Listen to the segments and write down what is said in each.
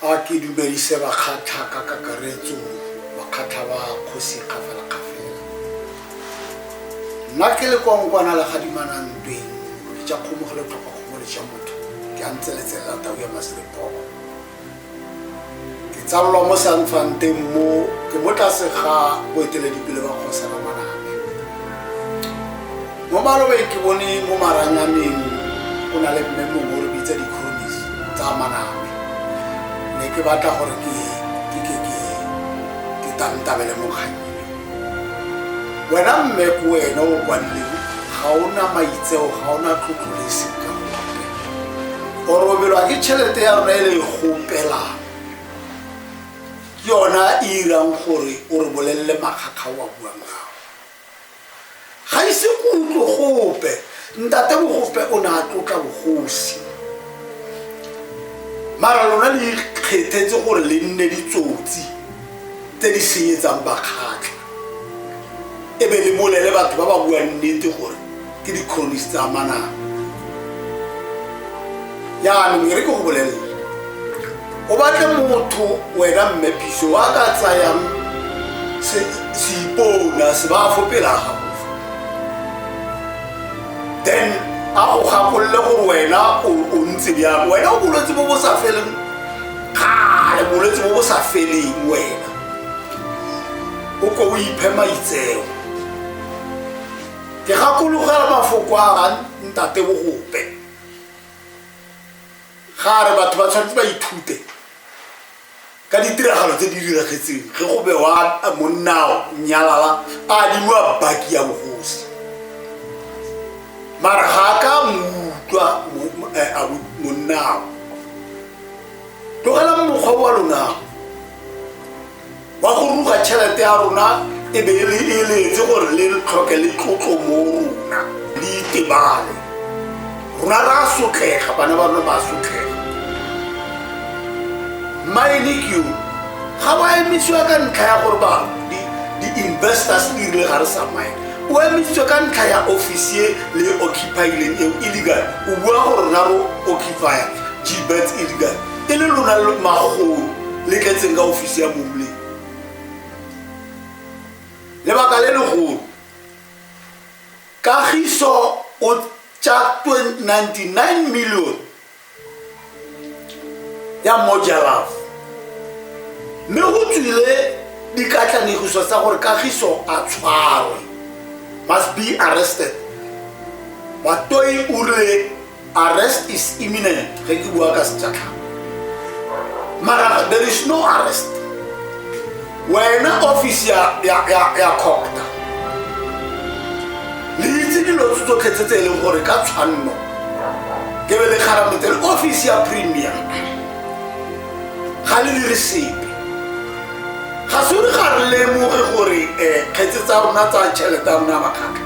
A ke dumedise bakgatlha ka kakaretso, bakgatlha ba kgosi kgafela kgafela. Nna ke le kwa nkwana la gadimana ntweng, ke ja kgomo go le tlhoka kgomo le ja motho, ke a ntse letsele la tau ya maselepoko. Ke tsalolwa mo sanfanteng mo, ke mo tlase ga boeteledipele ba kgosana maname. mo malobeng ke bone mo maranyaneng go na le mme mongwe o re bitsa di-cronis tsa maname ne ke batla gore ke ke ke ke ke tantabele mokganni wena mme ko wena o kwanleng ga o na maitseo ga o na tlotlo le seng ka go apela o robelwa ke tšhelete ya rona e le e gopelang ke yona e irang gore o re bolelele makgakga o a buang gago ga ise go utlwe gope ntate bogope o ne a tlotla bogosi mara lona le ikgethetse gore le nne ditsotsi tse di senyetsang bakgatlha e be le bolele batho ba ba buang nnete gore ke di-cronist tsa manang yaanong e re ke go bolelela o batle motho wena mme piso wa ka tsayang seipona se ba fo pela gago then a go gakolole gore wena o ntse bjang wena o bolwetse bo bo sa feleng kgale bolwetse bo bo sa feleng wena o ko o iphe maitseo ke gakologela mafoko a ga ntate bogope ga re batho ba tshwanetse ba ithute ka ditiragalo tse di diragetseng ge go bewa monnao nyalala a dimiwa baki ya bogosi mara ga a ka moutlwa eh, monnao tlogela mokgwa wa lonao wa go ruga tšhelete ya rona e be e le e leetse gore le re tlhoke le tlotlo mo rona le itebale rona ra sotlega bana ba rona ba sotlega mmaenekio ga ba emisiwa ka ntlha ya gore ba di-investors di rile ga re samaye o emisitswe ka ntlha ya office e le occupileng eo illegal o bua gore rona ro occupya gbets illegal e le lona le magolo le tletseng ka ofisi ya momleng lebaka le legolo kagiso o tša 99 million ya mojalafo mme go tswile dikatlanegiso tsa gore kagiso a tshwarwe must be arrested batoi o re arrest is imminent ge ke bua ka sejatlhang mara there is no arrest wena office ya, ya, ya, ya copta le itse dilo tse tsotlhe tse tse e leng gore ka tshwanno ke be le kgaramotsele office ya premium ga le dire sepe ga se re ga re lemoge gore um kgetse tsa rona tsa tšhelete ya rona ya makgatlha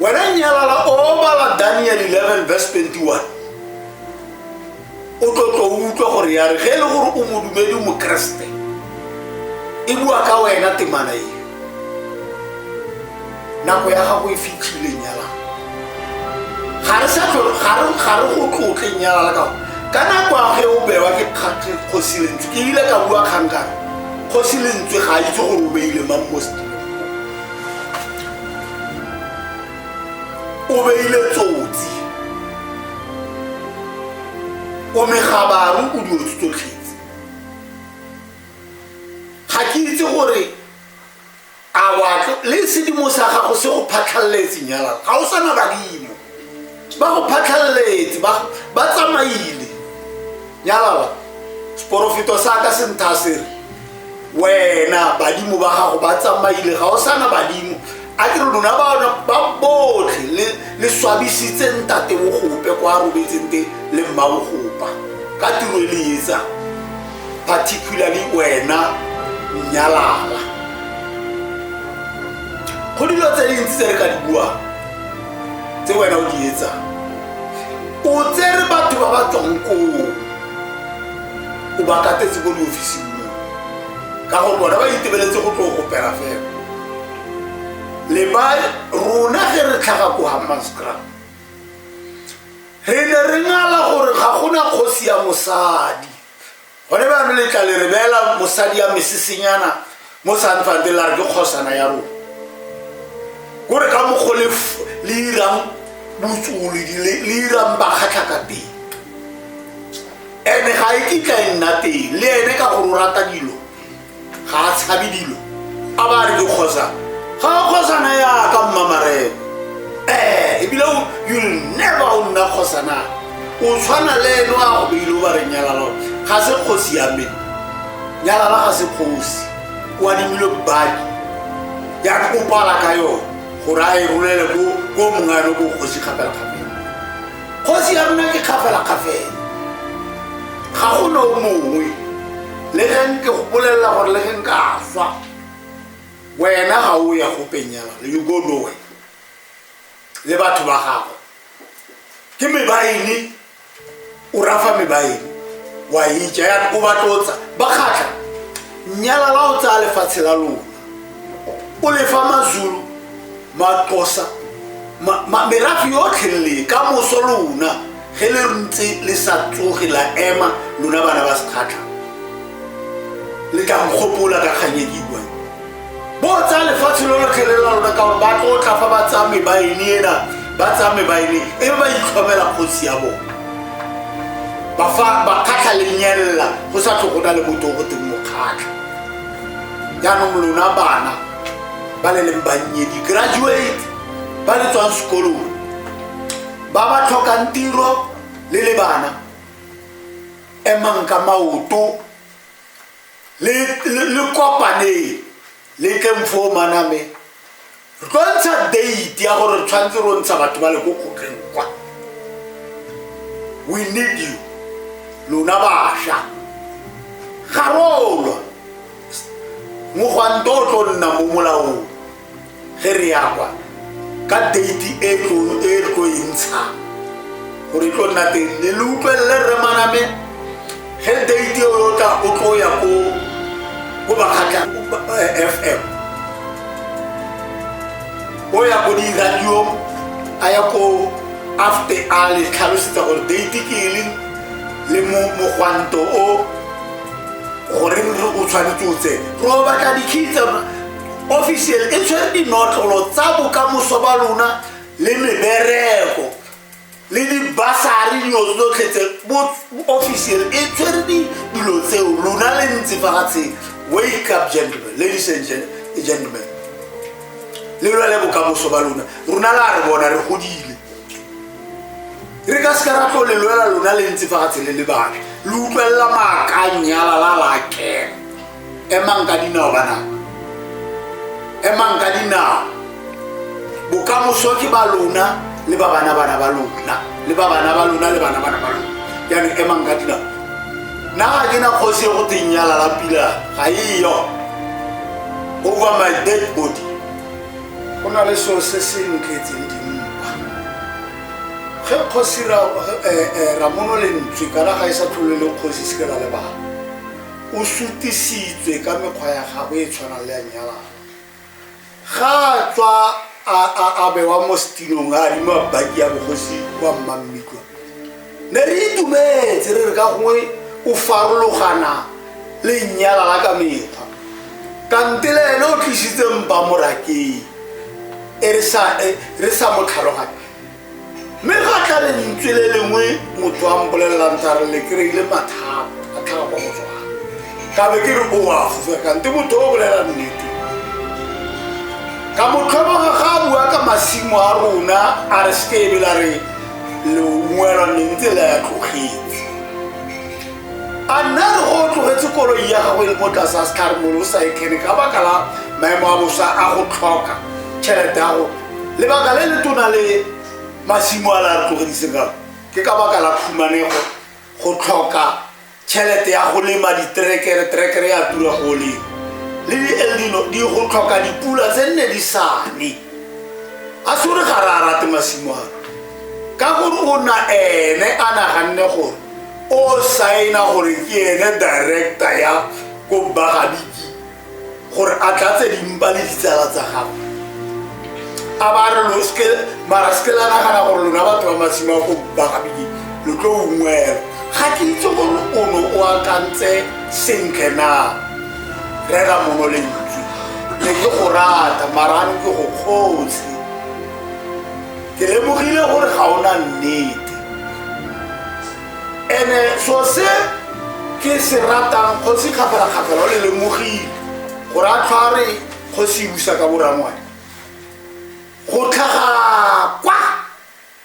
wena nyalala o bala daniel 11 verse 21 o tlotlo o utlwa gore ya re ge e le gore o modumedi mokeresete e bua ka wena temana eo nako ya gago e fitlhile nyalala ga re sa ga re go tlotle nyalala ka ka nako a ge o bewa ke kgosi lentswe ke ile ka bua kgankana kgosi lentswe ga a itse gore o beile mang mo o beile tsotsi o megabaru o dilo tse tsotlhetse ga ke itse gore a watlo le sedimo sa gago se go phatlhaletse nyalala ga o sana badimo ba go phatlhaletse ba tsamaile nyalala seporofeto sa ka se ntha se re wena badimo ba gago ba tsamaile ga o sana badimo a ke re lona baona ba botlhe le swabisitse ntate bogope kwa robetseng te le mma bogopa ka tiro e le etsa particularly wena nyalala go dilo tse dintsi tse re ka di buang tse wena o di etsang o tsere batho ba ba tswang koo o ba katetse ko diofising mo ka gore bona ba itebeletse go tlo go pera fela le ba rona ge re tlhaga ko hammanscram re ne re ngala gore ga gona kgosi ya mosadi gone bano letla le re beela mosadi ya mesesenyana mo sanfante la re ke kgosana ya rona ko re ka mokgo le irang botsolo le irang bakgatlha ka teng ene ga e kitla e nna teng le ene ka gore o rata dilo ga a tshabe dilo a ba re dikgosa ga a kgosana ya ka mmamarena ee ebile you never o nna kgosana o tshwana le eno a go beile o ba re nyalalo ga se kgosi ya me nyalala ga se kgosi o adimile badi ya kopala ka yone gore a e rolele ko mongano ko kgosi kgapelakgapela kgosi ya rona ke kgafelakgafela ga go no mongwe le geng ke go bolelela gore le geng ka swa wena ga o ya go penyela le you go nowe le batho ba gago ke mebaene o rafa mebaene wa itša ya o batlotsa ba kgatlha nyala la o tsaya lefatshe la lona o lefa mazulu maxosa merafi yotlhe le ka moso lona ge le ntse le sa tsoge la ema lona bana ba sekgatlha le tla nkgopola ka kganyediwa bo tsa lefatshe lo lotlhe le la lona ka gore ba tlotla fa ba tsame ba ene ena ba tsame ba ene e ba itlhomela kgosi ya bona ba kgatlha lenyelela go sa tlhogona le botogo teng mokgatlha jaanong lona bana ba le leng bannye di-graduate ba le tswang sekolong ba ba tlhokang tiro le le bana emang ka maoto le kopaneng le tleng foo maname re tlo ntsha date ya gore tshwanetse ro ntsha batho ba le ko kgotleng kwa we need you lona basha ga rolwa mogwanto o tlo nna mo molaong ge re ya kwa ka date e tlo e ntshang gore e tlo nna teng le le utlwelele rremaname ge date eo yo tla o tlo ya ko ko bakgatla eh, fm o ya ko diradio a ya ko afte a le tlhalosetsa gore date ke e leng le mogwanto o gore o tshwanetse o tsene ro batla dikgitsa official e tshwere dinotlolo tsa bokamoso ba lona le mebereko le dibasari dilo tsotlhe tse officer e tshwere dilo tseo lona le ntse fa gatsheng wake up gentlemen ladies and gentlemen le lwa le bokamoso ba lona rona la re bona re godile re ka seka ra tlo le lwela lona le ntse fa gatsheng le le batho le utlwelela maakanyala la lakela emang ka dinao banaka emang ka dinao bokamoso ke ba lona le ba bana bana ba lona le ba bana ba lona le bana bana ba lona yani emang ka dinao na ga ke na kgosi e go teng ya lalapila ga eyo over my dead body go na le seo se se ntletseng dimpa ge kgosi eh, eh, ramono lentswe kana ga e sa tlhole le kgosi se ke la lebala O sutisitswe ka mekgwa ya gagwe e tshwanang le ya nyalana. Ga a tswa a bewa mo setinong a adima baki ya bogosi kwa mmammitwa ne re itumetse re re ka gongwe o farologana le nyalala ka mekgwa kante le ene o tlisitse mpa morakeng e re sa e, mo tlhaloganye mme fa a tla le lentswe le lengwe motho a mpolelelang tsa re le kry-ile mathata a tlhaga kwa motswana ka be ke re o a fofekante motho o bolela nnete ka motlhoboga ga a bua ka masimo a rona a re se kebe la re leungwelwa ne ntse la ya tlogetse a nna re go tlogetse koloi ya gago e le mo tlase a setlhare molo o sa e kene ka baka la maemo a bosa a go tlhoka tšhelete ya go lebaka le le tona le masimo a la tlogediseng ka ke ka baka la phumanego go tlhoka tšhelete ya go lema ditrekere trekere ya tura go lema le dieldino di go tlhoka dipula tse nne di sane a se gore ga re a rate masimo a ka gore o na ene a naganne gore o saena gore ke ene director ya ko bagabiki gore a tlatse dimpa le ditsala tsa gago a ba re mara seke la nagana gore lona batho ba masimo a go bakabedi lo tlo ungwela ga ke itse gore o ne o akantse sentle na rera mono lentswe ne ke go rata marano ke go kgotse ke lemogile gore ga o na nnete ene so se ke se ratang kgosi kgafela-kgafela o le lemogile gore a tlhware kgosi e busa ka borangwane go tlhaga kwa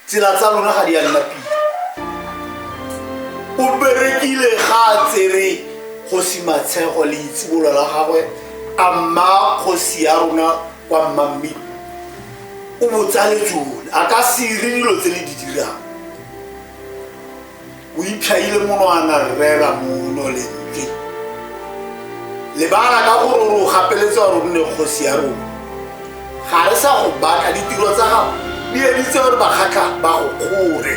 tsela tsa lona ga di ya nna pila o berekile ga a tsere kgosi matshego le itsibolo la gagwe a mma kgosi ya rona kwa mmamme o botsale tsone a ka sere dilo tse le di dirang o itlhaile monwana rrela mono lentle lebala ka gore o gapeletse gore o nne kgosi ya rona ga re sa go baka ditiro tsa gago di editse gore bakgatlha ba go kgore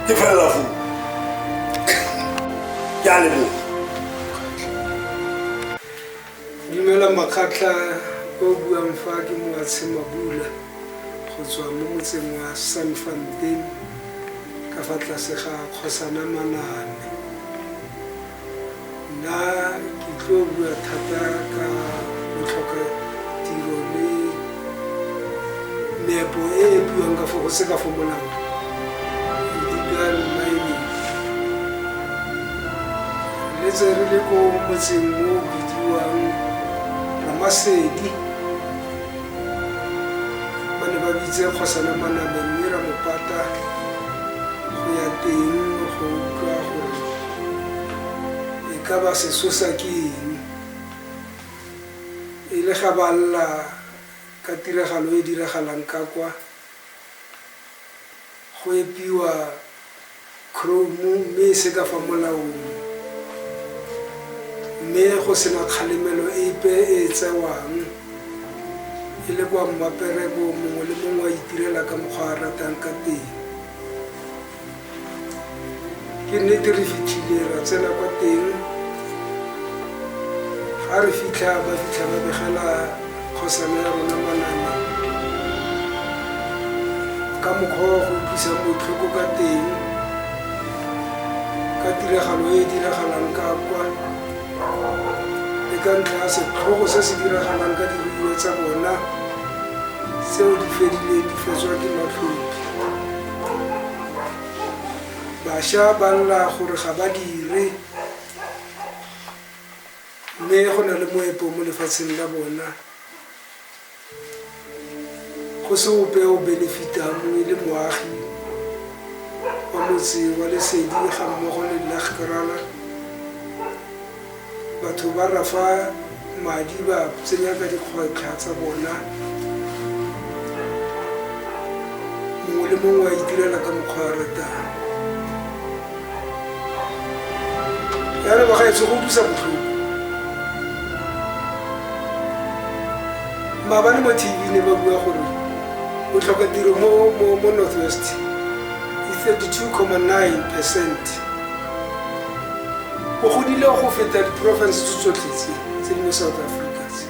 ke felela foo ke a leboga Dumela Makgatla, yo o buang fa ke Moatshe Mabula go tswa mo motseng wa Sanfontein ka fa tlase ga Kgosana Maname. Nna ke tlo bua thata ka botlhoka tiro le nepo e e buang ka fo go se ka fo molao legal mining re tse re le ko motseng mo o bidiwang ramasedi ba ne ba bitse kgosana manabe mme ra mopata go ya teng go utlwa gore e ka ba sesosa ke eng e le ga ba lla ka tiragalo e e diragalang ka kwa, go epiwa khrome mme e se ka fa molaong mme go sena kgalemelo epe e e tsewang e le kwa mmapereko mongwe le mongwe a itirela ka mokgwa a ratang ka teng. ke nnete re fitlhile ra tsena kwa teng ga re fitlha ba fitlha ba begela kgosana ya rona manana ka mokgwa wa go utlwisa botlhoko ka teng ka tiragalo e e diragalang ka kwa le ka ntlha ya setlhogo se se diragalang ka diruiwa tsa bona tseo di fedileng di fetswa ke matlhopi bašwa ba lla gore ga ba dire mme go na le moepo mo lefatsheng la bona go se ope o benefitang e le moagi wa motse wa lesedi ga mmogo le nna gerala Batho ba rafa madi ba tsenya ka dikgwetlha tsa bona, mongwe le mongwe a itirela ka mokgwa a ratang. Yana ba gaetsho go utlwisa botlhoko. Maabane mo TV ne ba bua gore botlhoka tiro mo Northwest is 32,9 percent. o godile go feta diporofense tse tsotlhe tse tse di mo south africa tse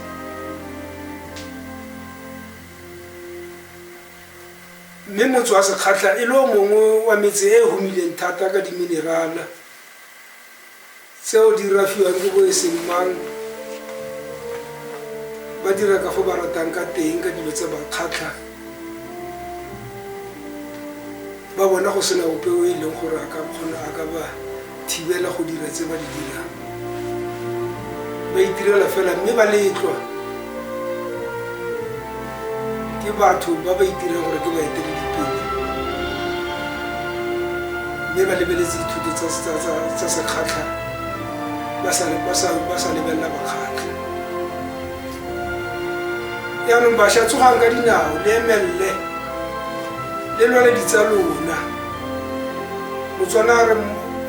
mme motse wa sekgatlha e le o mongwe wa metse e e humileng thata ka diminerala tseo di rafiwang ke bo e seng mang ba dira ka fo ba ratang ka teng ka dilo tse ba kgatlhang ba bona go sena ope o e leng gore a ka kgona a ka ba thibela go dira tse ba di dirang ba itirela fela mme ba letlwa ke batho ba ba itirang gore ke baeteledipele mme ba lebeletse dithuto tsa sekgatlha ba sa lebelela bakgatlha yaanong bašwa tsogang ka dinao le emelele le lwale ditsa lona motswana a re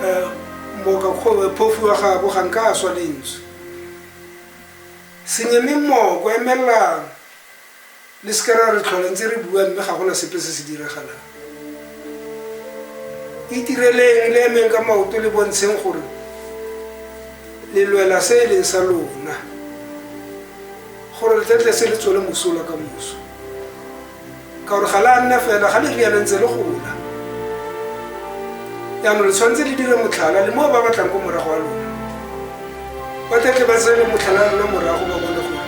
eh, mmoka eh, phofu wa gabo ga nka a swa lentswe senyeme mmoko emelelana le seke ra re tlhola ntse re bua mme ga gona sepe se se diragalang itireleng le emeng ka maoto le bontsheng gore le lwela se e leng sa lona gore le tletle se le tswele mosola ka moso ka gore ga le a nna fela ga le riana ntse le gola jaanong le tshwanetse le dire motlhala le mo ba batlang ko morago wa lona ba tlatle ba tsene motlhala lona morago ba bone gore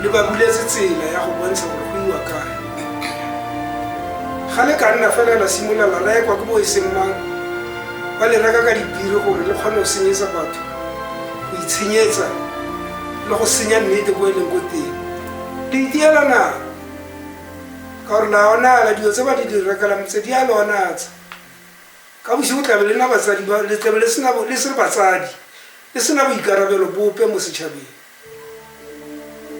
le ba buletse tsela ya go bontsha gore go iwa kae ga le ka nna fela la simolola la raya kwa ke bo e seng mang ba le reka ka dipiri gore le kgone go senyetsa batho go itshenyetsa le go senya nnete ko e leng ko teng le itiela na ka gore la onala dilo tse ba di di rekelang tse di a le onatsa Ka bosigo tlabe le nna batsadi ba le tlabe le sena le se le batsadi le sena boikarabelo bope mo setšhabeng.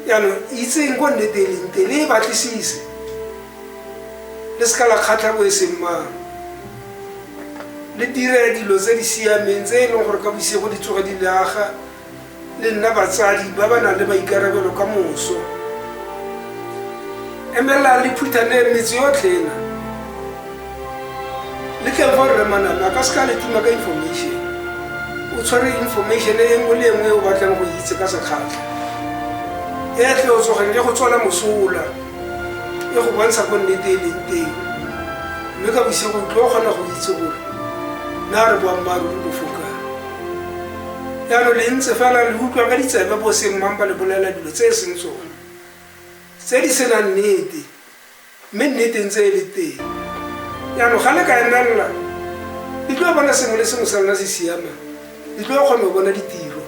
Yaanong itseng ko nnete e leng te le e batlisise le seka la kgatlha bo e seng mang le dire dilo tse di siameng tse e leng gore ka bosigo di tsoge di le aga le nna batsadi ba ba nang le maikarabelo ka moso emelela le phuthane metse yotlhe ena le tleng fa rre maname a ka se ka le tuma ka information o tshware information e nngwe le nngwe e o batlang go itse ka sekgatlha e tle o tsogeng le go tswala mosola e go bontsha ko nnete e leng teng mme ka bosigo tlo o kgona go itse gore na re boammaaruri bofokang Jalo le ntse fela le utlwa ka ditsebe bo seng mang ba le bolela dilo tse e seng tsone, tse di senang nnete, mme nnete ntse e le teng. Jaanong ga le ka emelela, le tlo bona sengwe le sengwe sa lona se siamang, le tlo kgona go bona ditiro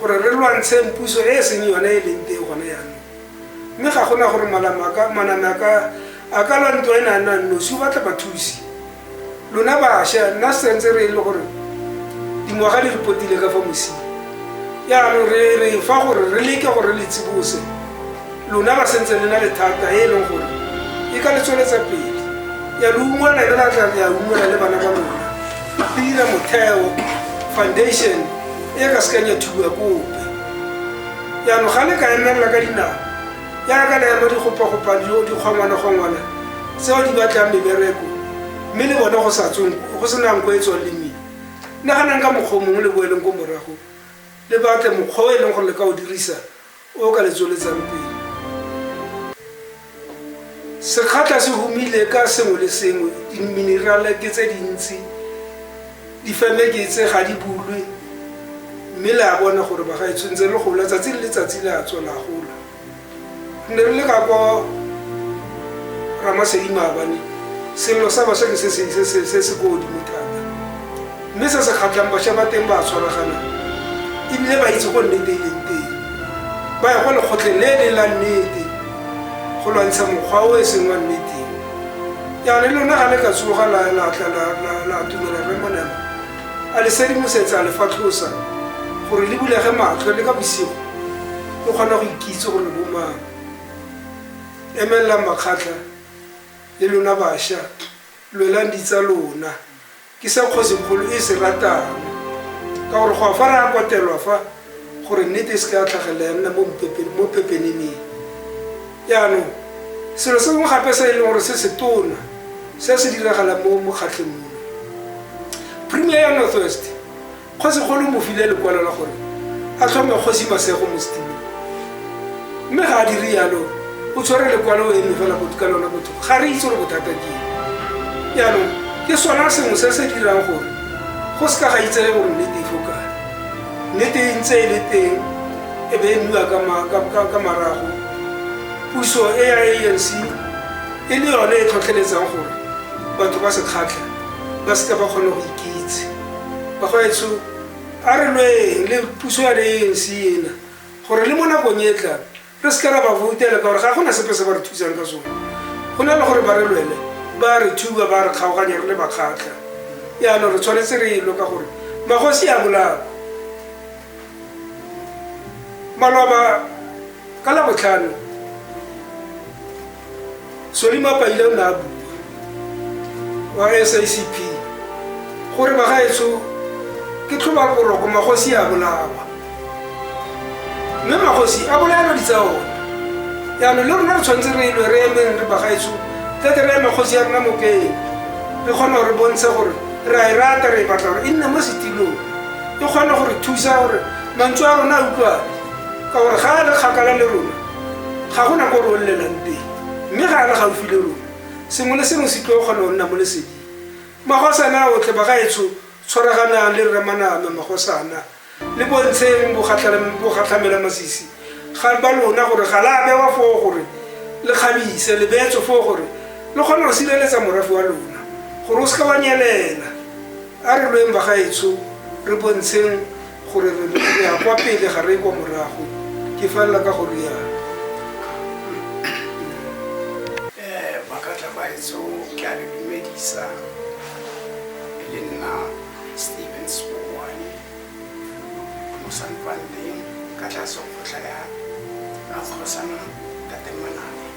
gore re lwantsheng puso e e seng yone e leng teng gone jaanong. mme ga gona gore maname a ka a ka lwa ntwa e ne a nang nosi o batla bathusi lona bašwa nna sentse re e le gore dingwaga di re potile ka fa mosing yaanong re re fa gore re leke gore le tsibose lona ba sentse le na le thata e e leng gore e ka le tsweletsa pele ya le ungwela le la tla ya ungwela le bana ba lona dira motheo foundation e ka sekanya thuba kope yaanong ga le ka emelela ka dinao jaaka le ema dikgopakgopane yo dikgongwanegongwana tseo di batlang mebereko mme le bone go sa tsong go senang ko e tswang le mmele naganang ka mokgwa o mongwe le boeleng ko morago le batle mokgwa o e leng gore le ka o dirisa o ka le tsweletsang pele Sekgatla se humile ka sengwe le sengwe, diminerale ke tse dintsi, difeme ke tse ga di bulwe, mme le a bona gore ba ga e tshwentse le gola tsatsi le letsatsi le a tswa la gola. Re ne re le ka kwa Ramasedimabane, selelo sa basha ke se se se se se ko godimo thata. Mme se se kgatlhang, basha ba teng ba a tshwaragana e bile ba itse go nnete e leng teng. Ba ya kwa lekgotleng le le la nnete go lwantsha mokgwa o e seng wa nnete. Jaana le lona ga le ka tsoga la la tla la la la atumela Rre Molema a le sedimosetsa a le fatlhosa gore le bulege matlho le ka bosigo le kgona go ikitse gore bo mang. Emelelang makgatlha le lona basha, lwelang ditsa lona. Ke se kgosikgolo e se ratang, ka gore go a fa re a kotelwa fa gore nnete e se ka ya tlhagelela ya nna mo pepeneneng. Jaanong, selo se sengwe gape se e leng gore se se tona se se diragalang mo mokgatlheng mono, Premier ya Northwest Kgosi kgolo mo file lekwalo la gore a tlhome kgosi masego mo setilong mme ga a dire yalo o tshwere lekwalo eno fela go ka lona botho ga re itse gore bothata ke jaanong ke sona sengwe se se dirang gore go se ka ga itsege gore nnete e tlhokane nnete e ntse e le teng e be e nniwa ka marago puso e ya anc e le yone e tlhotlheletsang gore batho ba se kgatlha ba seke ba kgone go ikitse bagwetsho a re lweng le puso ya le anc ena gore le mo nakong e tlang re se ka ra ba voutela ka gore ga gona sepe se ba re thusang ka sone go na le gore ba re lwele ba re thuba ba re kgaoganya re le bakgatlha yaanong re tshwanetse re elo ka gore magosi a bolao maloba ka labotlhano solima paile o ne a bua wa sacp gore bagaetso ke tlhoba boroko magosi a bolawa mme magosi a bolaelwa di tsa one jaanong le rona re tshwanetse re elwe re emeng re bagaetso tlete re eme kgosi ya rona mopele re kgona gore bontshe gore re a e rata re e batla gore e nne mo setilong e kgone gore thusa gore mantswe a rona a utlwane ka gore ga a le kgakala le rona ga go na ko re olelang teng mme ga a le gaufi le rona sengwe le sengwe se tlo kgona go nna mo lesedi magosana otlhe ba ga etsho tshwaraganang le rramaname magosana le bontsheng bogatlhamela masisi ga ba lona gore ga la bewa foo gore le kgabise le beetso foo gore le kgone go sireletsa morafe wa lona gore o seka wa nyelela a re lweng ba ga etsho re bontsheng Gore re ya kwa pele ga re ye kwa morago, ke felela ka go rialo. Eh, ba ka tla ba etso ke a le dumedisa le nna Steven Spowane mo Sanpandeng ka tlase go tlaya Rakgosana Tatemanane.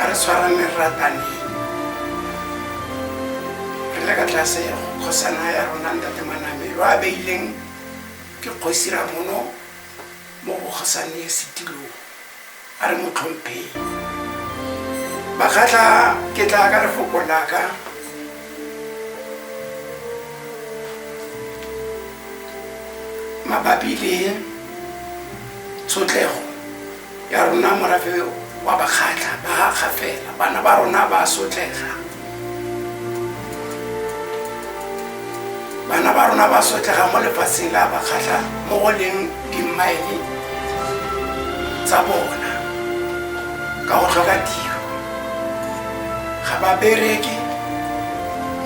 a re tshwarane rataneng re le ka tlase kgosana ya rona ntate manamelo a beileng ke kgosi ramono mo bokgosane setilong a re mo tlhompheng bakgatla ke tla ka lefoko laka mabapi le tshotlego ya rona morafe wa bakgatlha ba ga fela bana ba rona ba sotlega bana ba rona ba sotlega mo lefatsheng la bakgatlha mo go leng dimmaele tsa bona ka go tlhoka tiro ga ba bereke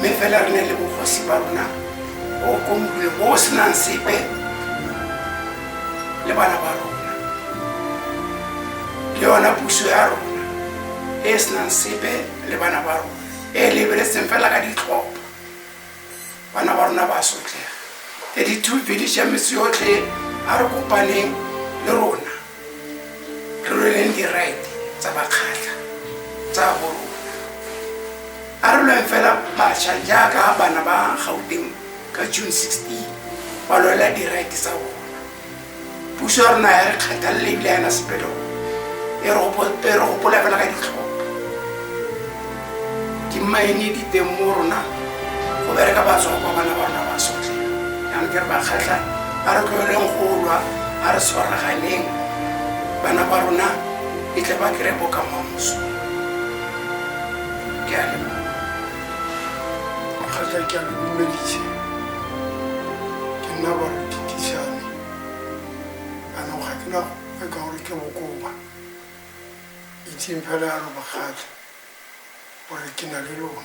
mme fela re ne le bogosi ba rona o komulwe bo o senang sepe le bana ba rona le yona puso ya rona e e senang sepe le bana ba rona e e lebeletseng fela ka ditlhopha bana ba rona ba sotlega e di-two village ya metse yotlhe a re kopaneng le rona re lweleng di-right tsa bakgatlha tsa bo rona a re lweng fela bašwa jaaka bana ba gauteng ka june 16 ba lwela dirite tsa bona puso ya rona ya re kgathalele ebile yana sepelo e re gopola fela ka ditlhopha dimaene di teng mo rona go bereka batswa kwa bana ba rona ba sotlhe yang ke re ba kgatlha ba re tloeleng go lwa ba re tshwaraganeng bana ba rona e tle ba kry-e bokamoso ke a leboa kgatlha ke a lo lumeditse ke nna ba re ke tisane ano ga ke na gope ka gore ke bokoba itseng fela ya lo bakgatlha gore ke na le lona